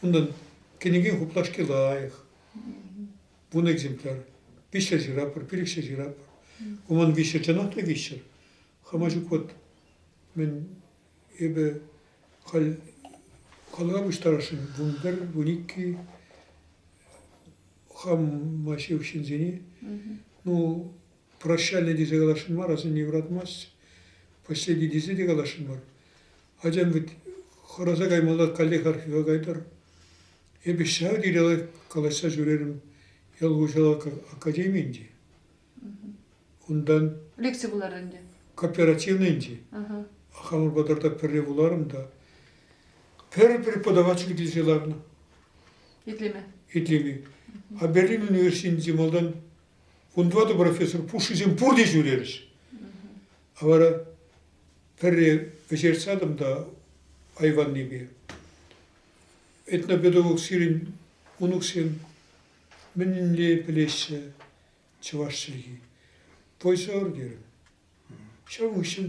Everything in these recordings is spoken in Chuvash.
Унтан кӗнеке хуплашки лайӑх. Вун экземпляр. Виҫҫӗ ҫыратпӑр, пилӗкҫӗ ҫыратпӑр. Ку ман виҫҫӗ, чӑнах та виҫҫӗр. Хама ҫук вот мӗн эпӗ халь калама пуҫтарасшӑн вун пӗр, вун икки хама ҫывӑх ҫынсене. Ну, прощали тесе каласшӑн мар, асанне юратмасть, последний тесе те каласшӑн мар. Ачам вӗт хӑраса каймалла каллех архива кайтар. Эпӗ ҫав тери калаҫса ҫӳрерӗм ял хуҫалӑх академийӗн те. Унтан... Лекци вулар ӗнтӗ. Кооперативный ӗнтӗ. Хамӑр патарта пӗрле вуларӑм та пӗр преподаватель килсе ларнӑ. Итлеме. Итлеме. А Берлин университетӗнче малтан Кунпа та профессор пушшисем пурте ҫӳрерӗҫ. Вара пӗрре вӗҫертсатӑм та айваннипе. Этнопедагог сирӗн мӑнуксем мӗнле пӗлеҫҫӗ чӑваш чӗлхи? Пойсӑр терӗм. Ҫавӑн хыҫҫӑн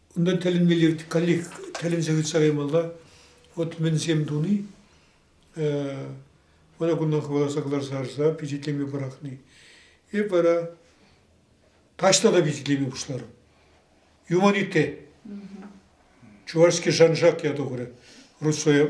Унта тӗлӗнмелле каллех тӗлӗнсе ыйтса каймалла. Вот мӗнсем туни, вара кунта хӑваласа кӑларса харса пичетлеме пӑрахни. Эп вара таҫта та пичетлеме пуҫларӑм. Юманитте. Чувашский шаншак ята курӗ. Русоя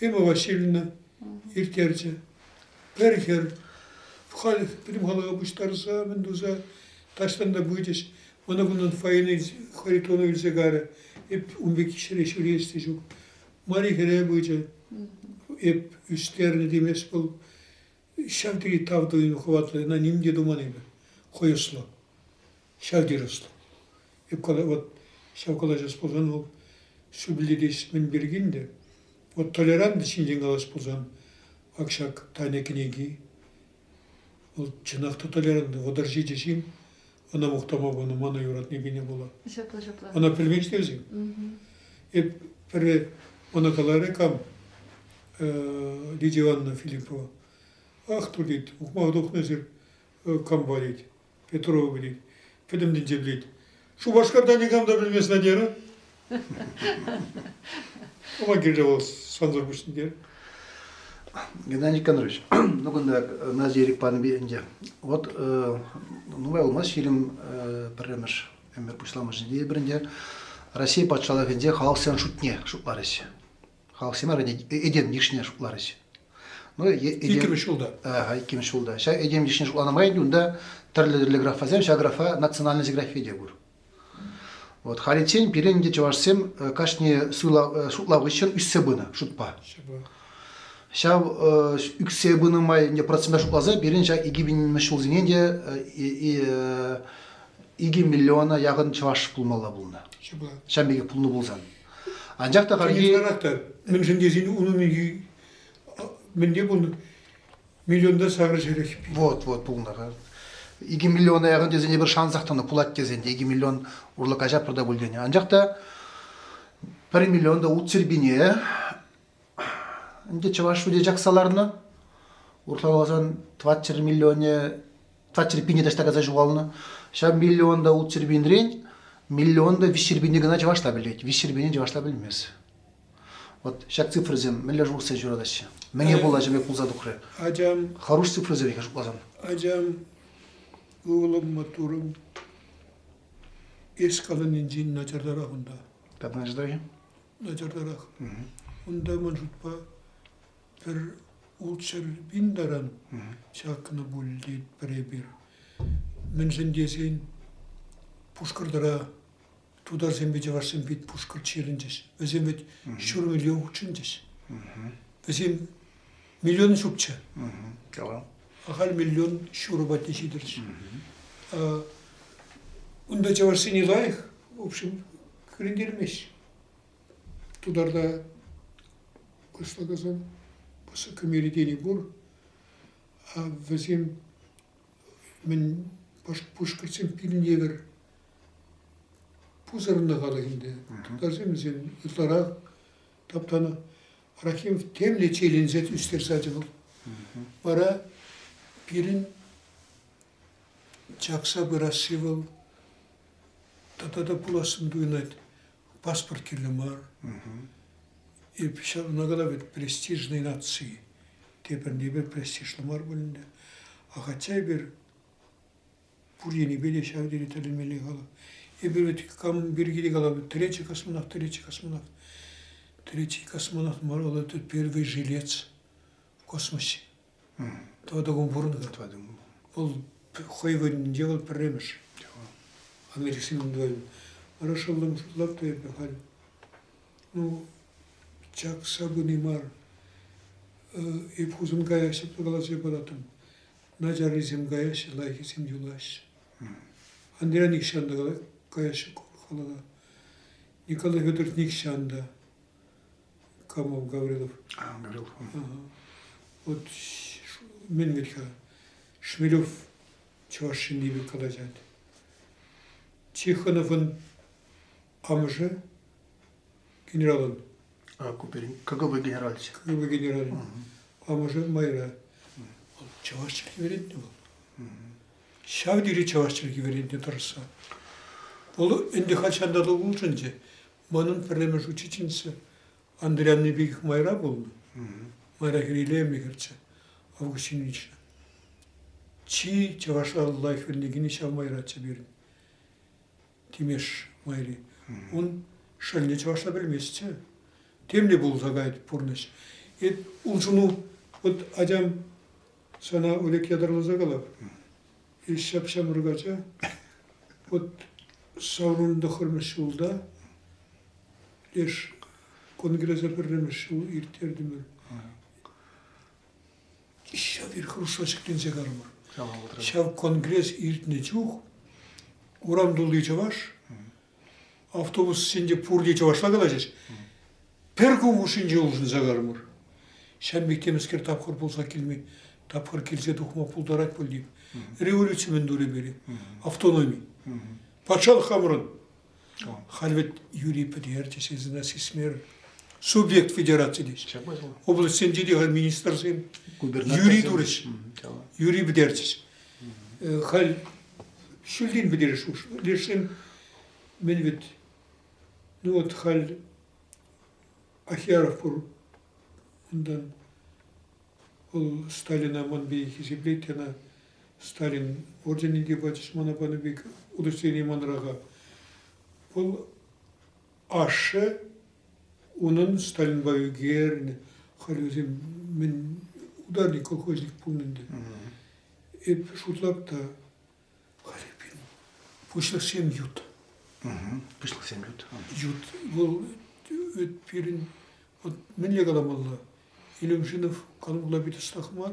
Эмма Васильевна ирттерчӗ. Пӗр хӗр халь пӗтӗм пуҫтарса мӗн туса таҫтан та пычӗҫ. Мана кунтан фойене Харитонов илсе карӗ. Эп ун пек ҫӗре ҫӳрес те ҫук. Мари хӗре пычӗ. Эп ӳстернӗ темест вӑл. Ҫав тери тав тытӑмӗ хӑватлӑ, ӑна ним те туман эпӗ. Хӑйӑшлӑ, ҫав тери ӑслӑ. Эп кала, вот ҫав калаҫас пулсан, вӑл шӳллетес мӗн пиркин те. Вот толерант ҫинчен калас пулсан, ак ҫак Таня кӗнеки. Вӑл чӑнах та толерант, вӑтӑр ҫичӗ ҫын. Ӑна мухтама панӑ, мана юратни кӗне пула. Ҫапла, ҫапла. Ӑна пӗлмен-ҫке вӗсем. Эп пӗрре ӑна каларӗ кам, Лидия Ивановна Филиппова. Ах, ту, тет, ухмаха тухнӑ кампа, тет, Петрова, тет, пӗтӗм тӗнче пӗлет. Шупашкарта никам та пӗлмест Надера. Ӑва килчӗ вӑл сансӑр пуҫне. Геннадий Никонорович, ну кунта Назия ирӗк панӑ ӗнтӗ. Вот нумай пулмасть ҫирӗм пӗрремӗш ӗмӗр пуҫламӑшӗнче пӗринче Россия патшалӑхӗнче халӑхсен шутне шутларӗҫ. Халӑхсем этем йышне шутларӗҫ. Ну, иккӗмӗш ҫулта. Иккӗмӗш ҫулта. Ҫак этем йышне шутланӑ май ӗнтӗ унта тӗрлӗ-тӗрлӗ графасем, ҫак графа национальность графи те пур. Вот халиччен пирӗн ӗнтӗ чӑвашсем кашни шутлав хыҫҫӑн ӳссе пынӑ шутпа. Ҫав ӳксе пынӑ май ӗнтӗ процентпа шутласа пирӗн ҫак икӗ пинмӗш ҫулсене те икӗ миллиона яхӑн чӑваш пулмалла пулнӑ. Ҫавӑн пекех пулнӑ пулсан. Анчах та халӗ мӗншӗн тесен унӑн мӗнте пулнӑ? Миллионта саврӗ ҫерех. Вот, вот пулнӑ. Икӗ миллиона яхӑн тесен эпир шансах тӑнӑ пулать тесен те икӗ миллион урлӑ каҫапӑр та пуль тенӗ. Анчах та пӗр миллион та ут сирпине ӗнтӗ чӑваш шуде чакса ларнӑ. Урхаласан 20 миллионе 20 пине таҫта кайса ҫухалнӑ. Ҫав миллион та ут сирпинрен миллион та виҫ сирпине кӑна чӑваш та пӗлет. Виҫ сирпине чӑваш та пӗлмест. Вот ҫак цифрӑсем мӗнле шухӑшсем ҫуратаҫҫӗ? Мӗне пулаҫӑвӗ пулса тухрӗ? Ачам. Хӑруш цифрӑсемпе шутласан. Ачам, ывӑлӑм маттурӑм. Эс каланинчен начартарах унта. Как начартарах? Начартарах. Унта, ман шутпа, пӗр ултҫӗр пин таран ҫакнӑ пуль тет пӗр эпир. Мӗншӗн тесен Пушкӑртра тутарсемпе чӑвашсем пит пушкӑрт ҫырӑнчӗҫ. Вӗсем вӗт ҫур миллион хутшӑнчӗҫ. Вӗсем миллион ҫукчӗ. Калам. Ахаль миллион ҫурӑ патне ҫитӗрчӗ. Унта чӑвашсене лайӑх, в общем, кӳрентермест. Тутарда кӑслакасан пысӑк меридени пур. А вӗсем мӗн пушкӑртсем пирӗн евӗр пусӑрӑннӑ халӑхӗнте. Тутарсем вӗсен ытларах таптанӑ. Рахимов темле чирленсе ӳстерсе ячӗ вӑл. Вара пирӗн чакса пырасси вӑл тата та пулассӑн туйӑнать. Паспорт кирлӗ мар. Эп ҫавна кала вӗт престижный нации. Тепӗр-тепӗр престижлӗ мар пуль ӗнтӗ. А хотя эпир Пур енӗпе те ҫав тери тӗлӗнмелле халӑх. Эпир вӗт кам пирки те калапӑр, третий космонавт, третий космонавт, третий космонавт мар, вӑл это первый жилец в космосе. Тӑва таком пурӑннӑ. Тӑва таком. Вӑл хӑй кунӗнче вӑл пӗрремӗш. Америкӑсен Хорошо лапты эпӗ халь. Ну, чак сабыни мар. Эп Хусанкая ҫапла каласа параттӑм. начаррисем каяҫҫӗ, лайӑххисем юлаҫҫӗ. Андрей нихҫан та каяҫҫӗ халана. Николай Федорович нихҫан та. Камов Гаврилов. А, Гаврилов. Вот мӗн вӗт-ха, Шмелев чӑваш ҫынни пек калаҫать. Тихоновӑн Амӑшӗ генералӑн. А, Куперин, КГБ генералччӗ. КГБ генералӗ. Амӑшӗ майра. Вӑл чӑваш чӗлхи вӗрентнӗ вӑл. Ҫав тери чӑваш чӗлхи вӗрентнӗ тӑрӑшса. Вӑл ӗнтӗ хальҫан та улшӑнчӗ. Манӑн пӗрремӗш учительница Андрей Андрей пекех майра пулнӑ. Майра хӗрелеме кӗрчӗ Августин Ильична. Чи чӑвашла лайӑх вӗренекенӗ ҫав майраччӗ пирӗн. Тимеш майри. Ун шӑлне чӑвашла пӗлместчӗ. Темле пулса кайать пурнӑҫ. Эп улшӑну, вот атям сана Олег ятарласа калап. Эс ҫап-ҫамрӑк ача. Вот саврӑнтӑхӑрмӗш ҫулта леш конгреса пӗрремӗш ҫул ирттертӗмӗр. Ҫав ресурсра ҫӗкленсе карӑмӑр. Ҫав конгресс иртнӗ чух урам тулли чӑваш, автобуссенче пурте чӑвашла калаҫӗҫ. Пӗр кун хушшинче улшӑнса карӑмӑр. Ҫав пек темӗскер тапхӑр пулса килме, тапхӑр килсе тухма пултарать пуль революци мӗн турӗ пире, автономи. Патшалӑх хамӑрӑн Халь вӗт Юрий Пӗтер те сисӗн а сисмер субъект федераци теҫҫӗ. Облаҫсенче те халь министрсем Юрий турӗҫ. Юрий пӗтерчӗҫ. Халь ҫӳлтен пӗтерӗш лешсем мен вӗт ну вот халь Ахяров пур унтан ол Сталина ман пей хисеплет ана Сталин орденӗ те пачӗҫ мана панӑ пек удостоверение манраха. Вӑл ашшӗ унӑн Сталинпа ӳкернӗ халь вӗсем мӗн ударник колхозник пулнӑ ӗнтӗ. Эп шутлап та халӗ пин пуҫлӑхсем ют. Пуҫлӑхсем ют. Ют вӑл эт пирӗн вот мӗнле каламалла? Илюмшинов канмалла пит ӑстах мар.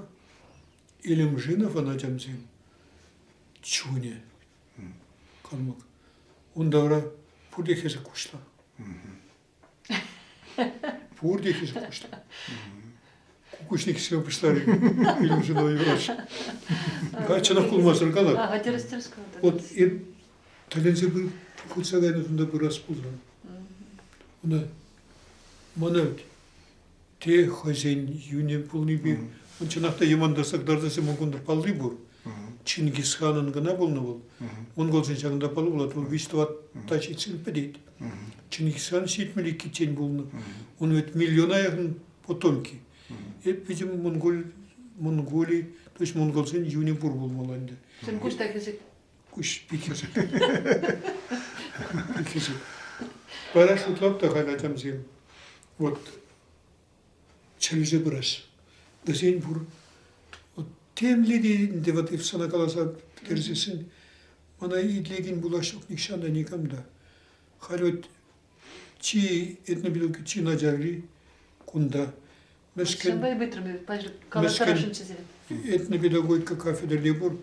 Илемжиновӑн ачамсем чунӗ калмак. Унта вара пурте хӗсӗк куҫла. Пурте хӗсӗк куҫла. Кукушник себе пуҫларӗ Илемжинова юратчӗ. Каччӑнах пулмасӑр калар. Ага, тӗрӗс, тӗрӗс Вот и тӗленсе пыр, путса кайнӑ тунда пырас пулсан. Ӑна мана ведь те хӑйсен юнӗ пулнипе чӑнах та йӑмантарсах тартасем ункунта палли пур. Чингис ханӑн кӑна пулнӑ вӑл. Монголсен ҫакӑнта палли пулать, вӑл виҫ-тӑват та ҫитсен пӗтет. Чингис хан ҫитмӗл иккиччен пулнӑ. Ун вӗт миллиона яхӑн потомки. Эп видим Монгол, Монголи, то есть монголсен юнӗ пур пулмалла ӗнтӗ. Чӗнкуҫ та хӗсет. Куҫ пикер. Бара шутлап та хана тямсем. Вот чӗлже пырас. Вӗсен пур. Вот темле те ӗнтӗ вот if сана каласа пӗтерсессӗн, мана итлекен булашок нихҫан та никам да. Халь вот чи этнобилка чи начарри кунта. Мӗскӗн. Вӑй пытрӑм эпӗ, калаттарасшӑнччӗ сирӗн. Этнопедагогика кафедрӑри пур.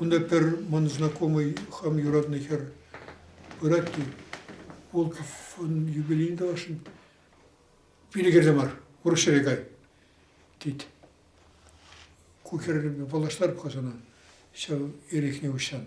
Унта пӗр ман знакомый хам юратнӑ хӗр пырать Волковӑн юбилейне тӑвасшӑн. Пире кӗрсе мар, урӑх ҫӗре кай, тет. Ку хӗрпе паллаштарӑп-ха сана ҫав эрехне уҫсан.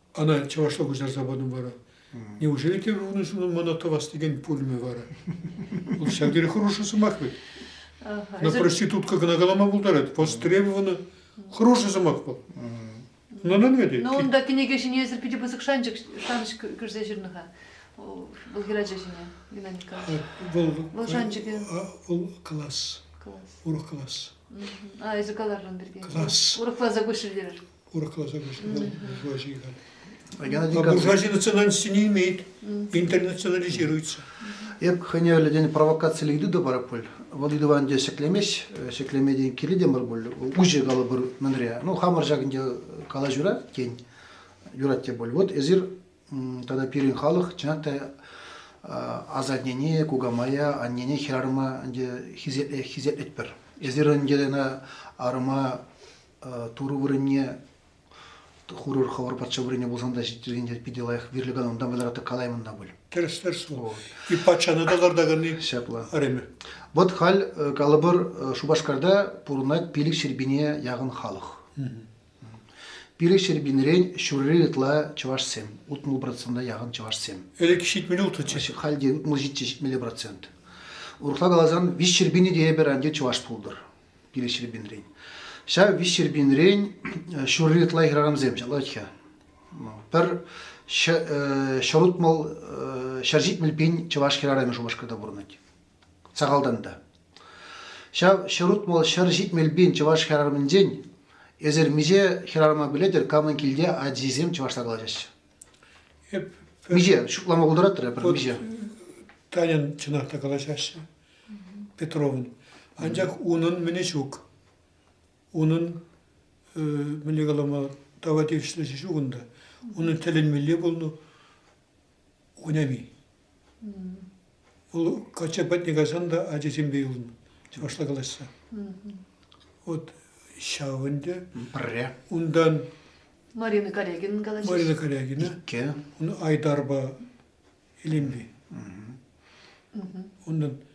Ӑна чӑвашла куҫарса патӑм вара. Неужели те унӑн мана тӑвас текен пулмӗ вара? Вӑл ҫав тери хороший сӑмах вӗт. Но проститутка кӑна калама пултарать. Востребована хороший сӑмах вӑл. Нунӑн вӗт. Но унта кӗнеке ҫине эсир питӗ пысӑк шанчӑк шанӑҫ кӳрсе ҫырнӑ-ха. Вӑл хӗрача ҫине, Геннадий Николаевич. Вӑл вӑл шанчӑкӗ. Вӑл класс. Класс. Урӑх класс. А эсӗ каларӑн пирки. Класс. Урӑхласа куҫрӗ терӗр. урӑхласа куҫнӑ влаҫи халь. А буржуазия национальности не имеет, интернационализируется. Эп хӑневлӗ тен провокациле ыйту пар пуль. Вӑл ыйтӑван те ҫӗклемеҫ, ҫӗклемеден кирлӗ те мар пуль. Уҫӑ калӑпӑр мӗнре. Ну, хамӑр ҫакӑнте кала юрать, тен, юрать те пуль. Вот эсир тата пирӗн халӑх, чӑнах та, асаннене, кукамая, аннене хӗрарӑма ӗнтӗ хисеплетпӗр. Эсир ӗнтӗ ӑна арӑма Турӑ вырӑнне хурӑр хӑвӑр патша вырӑнне пулсан та ҫитӗрсен питӗ лайӑх вирлӗ канун та вӑйлӑрах та калаймӑн та пуль. Тӗрӗслес пуль. И патшана та картаканни. Ҫапла. Ареме. Вот халь, калӑпӑр, Шупашкарта пурӑнать пилӗк ҫӗрпине яхӑн халӑх. Пилӗк ҫӗрпинрен ҫурри ытла чӑвашсем, утмӑл процента яхӑн чӑвашсем. Ӗлӗк ҫитмӗле утнӑччӗ. Халь те утмӑл ҫиччӗ ҫитмелле процент. Урӑхла каласан, виҫ ҫӗрпине те эпир анче чӑваш пултӑр. Кирек Ҫӗрпӳнрен. Ҫав виҫ Ҫӗрпӳнрен ҫурри ытла хӗрарӑмсем ҫалать-ха. Пӗр ҫӑрутмӑл ҫӗр ҫитмӗл пин чӑваш хӗрарӑмӗ Шупашкарта пурӑнать. Сахалтан та. Ҫав ҫӑрутмӑл ҫӗр ҫитмӗл пин чӑваш хӗрарӑмӗнчен эсир миҫе хӗрарӑма пӗлетӗр, камӑн килте ачисем чӑвашла калаҫаҫҫӗ? Эп миҫе ҫуклама пултаратрӗ пӗр миҫе? Таньӑн чӑнах та калаҫаҫҫӗ, Петровӑн. Анчах унӑн мӗнӗ ҫук. Унӑн мӗнле калама тава тивӗҫлӗ ҫук унта. Унӑн тӗлӗнмелле пулнӑ Унями. Вӑл качча патне кайсан та ачасемпе юлнӑ, чӑвашла калаҫса. От ҫав ӗнтӗ. Пӗрре. Унтан Марина Калягина калаҫаҫҫӗ. Марина Калягина. Икке. Ун Айдарпа илемли. Унтан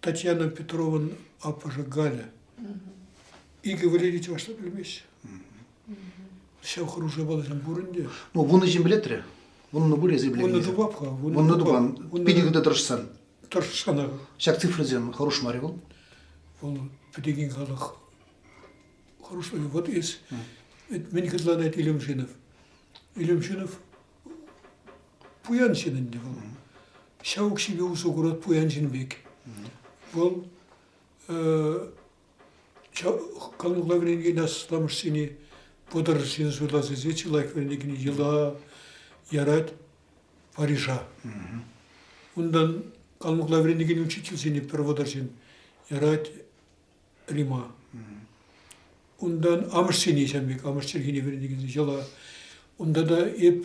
Татьяна Петрован аппӑшӗ Галя. Икӗ вӗренӳ чӑвашла пӗлмест. Ҫав хӑрушӑ баласем пурӑн те. Ну, вунӑ ҫын пӗлетрӗ. Вуннӑ пур эсӗ пӗлетӗн. Вуннӑ тупап-ха. Вуннӑ тупан. Питӗ хытӑ тӑрӑшсан. Тӑрӑшсанах. Ҫак цифрӑсем хӑруш мар-и вӑл? Вӑл пӗтекен халӑх хӑрушлӑхӗ. Вот эс. Мӗн хытланать Илемшинов? Илемшинов Пуян ҫын ӗнтӗ вӑл. Ҫав укҫипе усӑ курать пуян ҫын пек. Вӑл канлӗ вӗренекен асламӑшсене вӑтӑр ҫын суйлас тесе чи лайӑх вӗренекен йӑла ярать Парижа. Унтан канлӑхла вӗренекен учительсене пӗр вӑтӑр ҫын ярать Рима. Унтан амӑшсене ҫамрӑк амӑш чӗлхине вӗренекенсене йӑла. Унта та эп